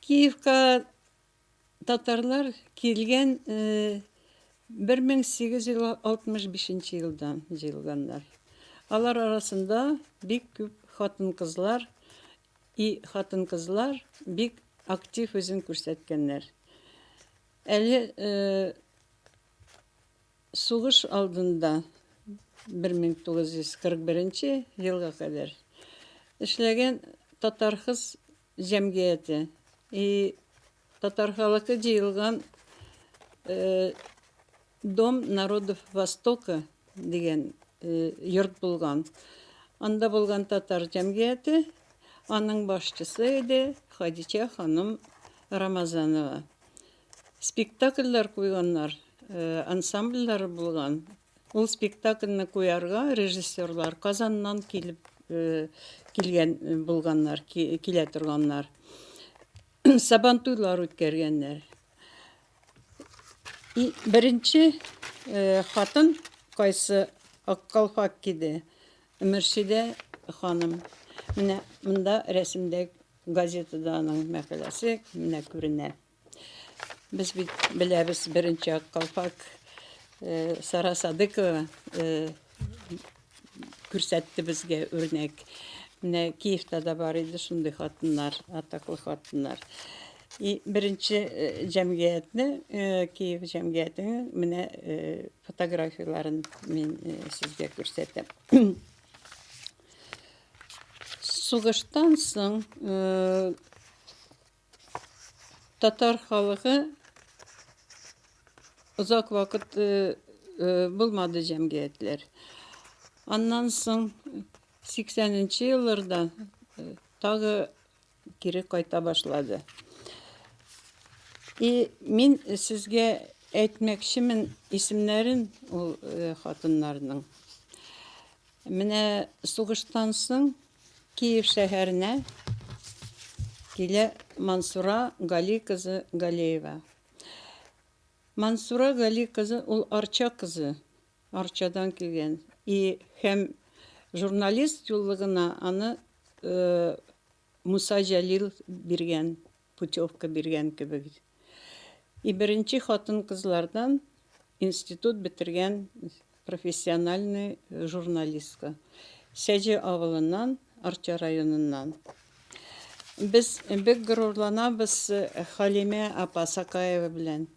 Киевка татарлар килгән 1865 э, елдан җыелганнар. Алар арасында бик күп хатын-кызлар, И хатын-кызлар бик актив үзен күрсәткәннәр. Әле э, сугыш алдында 1941 елга кадәр эшләгән татархыз җәмгыяте и Татар халыкы җыелган Дом народов Востока дигән йорт булган. Анда булган татар җәмгыяте, аның башчысы иде Хадичә ханым Рамазанова. Спектакльләр куйганнар, ансамбльләре булган. Ул спектакльне куярга режиссерлар Казаннан килеп килгән булганнар, килә торганнар. Сабантуйлар үткәргәннәр. Беренче э, хатын кайсы аккалфак киде? Мөршидә ханым. Менә монда рәсемдә газетада аның мәкаләсе менә күренә. Без бит беләбез беренче аккалфак э, Сара Садыкова э, күрсәтте безгә үрнәк. Менә Киевта да бар иде шундый хатыннар, атаклы хатыннар. И беренче э, җәмгыятьне, э, Киев җәмгыятенең менә э, фотографияләрен мин сезгә күрсәтәм. Сугыштан соң Татар халыгы озак вакыт э, э, булмады җәмгыятьләр. Аннан соң 80-нче елларда э, тагы кире кайта башлады. И мин сезгә әйтмәкчемен исемнәрен ул хатыннарның. Менә сугыштан соң Киев шәһәренә килә Мансура Гали кызы Галеева. Мансура Гали кызы ул Арча кызы, Арчадан килгән. И һәм журналист юллыгына аны Муса Җәлил биргән. путевка биргән кебек. И беренче хатын-кызлардан институт бетергән профессиональный журналистка. Сәҗе авылыннан, Арча районыннан. Без бик горурланабыз Халимә апа Сакаева белән.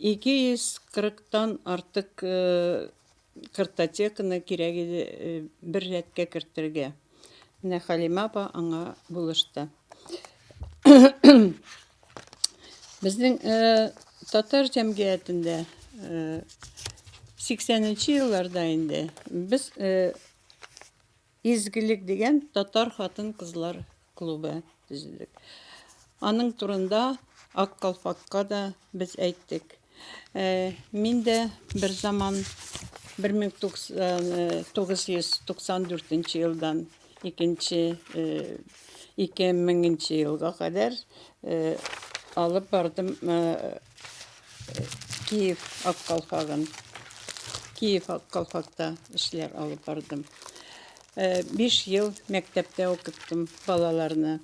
240 тан артык картотеканы кирәк иде бер рәткә кертергә. Менә Халимә апа аңа булышты. Безнең татар җәмгыятендә 80 нче елларда инде без Изгелек дигән татар хатын-кызлар клубы төзедек. Аның турында Ак калфакка да без әйттек. Ә, мин дә бер заман 1994 елдан 2000 елга кадәр алып бардым Киев ак калфагын Киев ак калфакта эшләр алып бардым. 5 ел мәктәптә укыттым балаларны.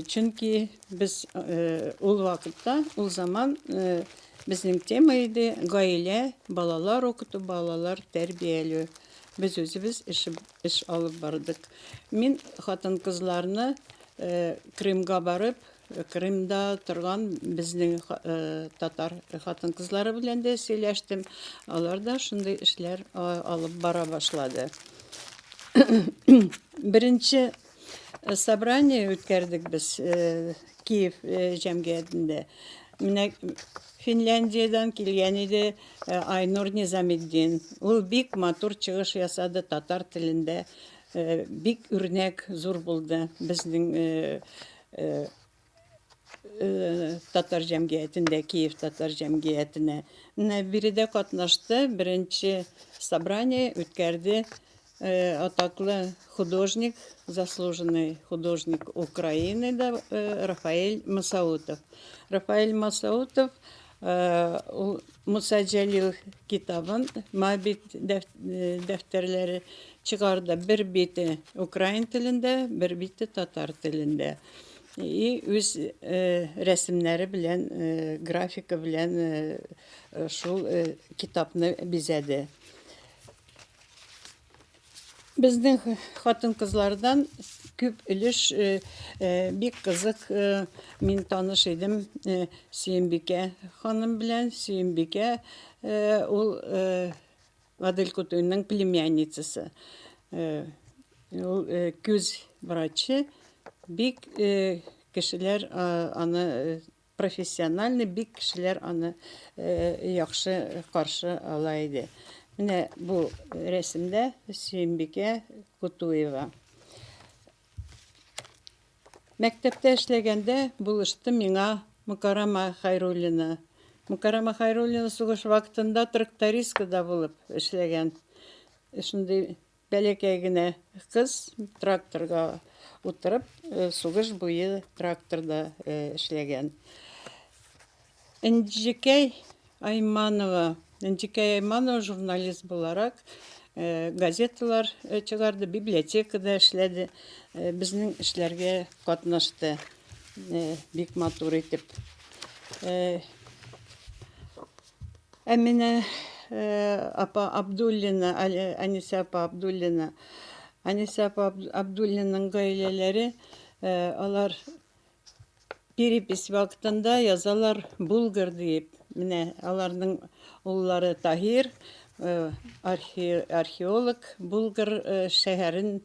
Чөнки без ул вакытта, ул заман безнең тема иде гаилә, балалар укыту, балалар тәрбияләү. Без үзебез эш, эш алып бардык. Мин хатын-кызларны Крымга барып, Крымда торган безнең татар хатын-кызлары белән дә сөйләштем. Алар да шундый эшләр алып бара башлады. Беренче собрание үткәрдек без Киев җәмгыятендә. Менә Финляндиядән килгән иде Айнур Низаметдин. Ул бик матур чыгыш ясады татар телендә. Бик үрнәк зур булды безнең Э, э, татар җәмгыятендә Киев татар җәмгыятенә менә биредә катнашты, беренче собрание үткәрде э, атаклы художник, заслуженный художник Украины да Рафаэль Масаутов. Рафаэль Масаутов Ул Муса Җәлил китабын, Моабит дәфтәрләре чыгарды. Бер бите украин телендә, бер бите татар телендә. И үз рәсемнәре белән, графика белән шул китапны бизәде. Безнең хатын-кызлардан күп өлеш э, э, бик кызык э, мин таныш идем э, Сөембикә ханым белән. Сөембикә э, ул э, Адель Кутуйның племянницасы. Э, ул э, күз врачы. Бик э, кешеләр а, аны э, Профессиональный бик кешеләр аны яхшы каршы ала иде. Менә бу рәсемдә Сөембикә Кутуева. Мәктәптә эшләгәндә булышты миңа Мукарама Хайруллина. Мукарама Хайруллина сугыш вакытында трактористкада булып эшләгән. Шундый Бәләкәй генә кыз тракторга утырып, сугыш буе тракторда эшләгән. Энҗекәй Айманова, Энҗекәй Айманова журналист буларак газеталар чыгарды, библиотекада эшләде, безнең эшләргә катнашты бик матур итеп. Әминә апа Абдуллина, Әнисә апа Абдуллина. Әнисә апа Абдуллинаның гаиләләре, алар перепись вакытында язалар Булгар диеп. Менә аларның уллары Таһир, археолог, Булгар шәһәрен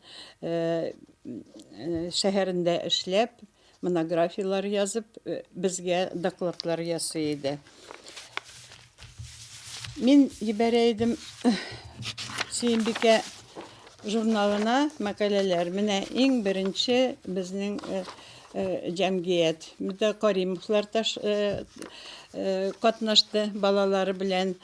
шәһәрендә эшләп, Монографияләр язып, э, безгә докладлар ясый иде. Мин ебәрә идем Сөембикә журналына мәкаләләр. Менә иң беренче безнең э, Э, җәмгыять. Монда Каримовлар таш э, э, катнашты балалары белән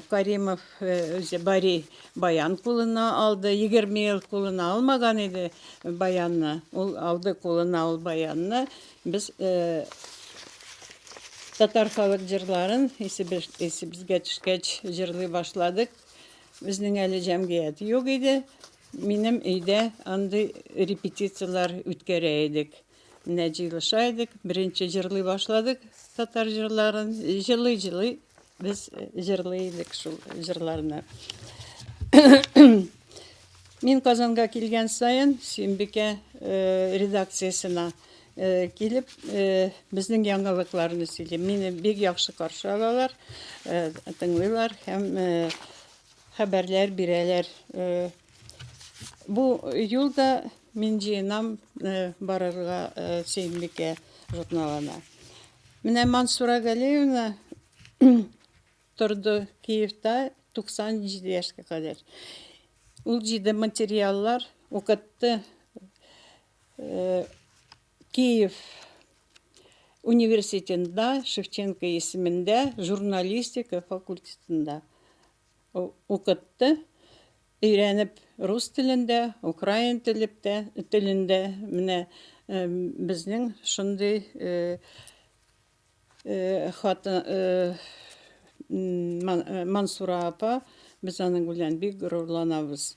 Каримов Үзе Бари Баян кулына алды. Егерме ел кулына алмаган иде Баянны. Ул алды кулына ул Баянны. Без татар халык җырларын исебезгә төшкәч җырлый башладык. Безнең әле җәмгыять юк иде. Минем өйдә андый репетицияләр үткәрә идек. Менә җыелыша идек, беренче җырлый башладык татар җырларын. Җырлый-җырлый без җырлый идек шул җырларны. Мин Казанга килгән саен Сөембикә э, редакциясенә э, килеп э, безнең яңалыкларны сөйлим. Мине бик яхшы каршы алалар, тыңлыйлар һәм хәбәрләр бирәләр. Бу юл да мин җыенам барырга Сөембикә журналына. Менә Мансура Галиевна торды Киевта 97 яшькә кадәр. Ул җыйды материаллар, укытты. Киев университетында, Шевченко исемендә журналистика факультетында укытты, өйрәнеп рус телендә, украин телептә, телендә менә безнең шундый хаты Мансура апа, без аның белән бик горурланабыз.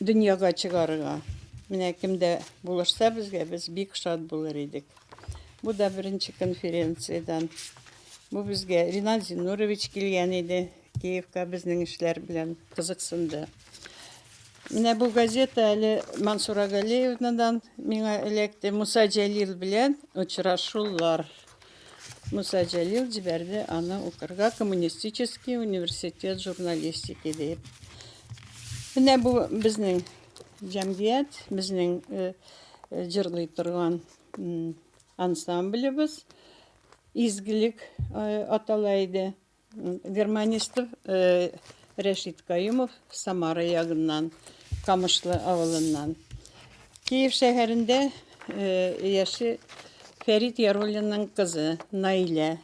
дөньяга чыгарырга. Менә кемдә булышса безгә, без бик шат булыр идек. Бу да беренче конференциядән. Бу безгә Ринат Зинурович килгән иде. Киевка безнең эшләр белән кызыксынды. Менә бу газета әле Мансура Галеевнадан миңа эләкте. Муса Җәлил белән очрашулар. Муса Җәлил җибәрде аны укырга коммунистический университет журналистики дип. Менә бу безнең җәмгыять, безнең э, э, җырлый торган ансамблебез изгелек э, атала иде. Германистов э, Рәшит Каюмов Самара ягыннан, Камышлы авылыннан. Киев шәһәрендә э, яши Фәрит Яруллинның кызы Наилә.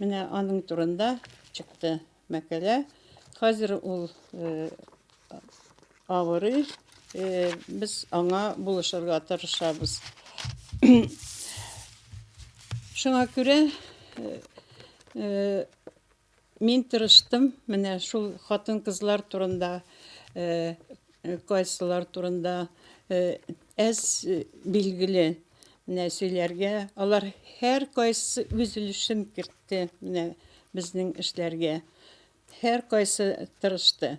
Менә аның турында чыкты мәкәлә. Хәзер ул э, Авырый, без аңа булышырга тырышабыз. Шуңа күрә мин тырыштым, менә шул хатын-кызлар турында, кайсылар турында әз билгеле менә сөйләргә. Алар һәр кайсы үз өлешен кертте менә безнең эшләргә. Һәр кайсы тырышты.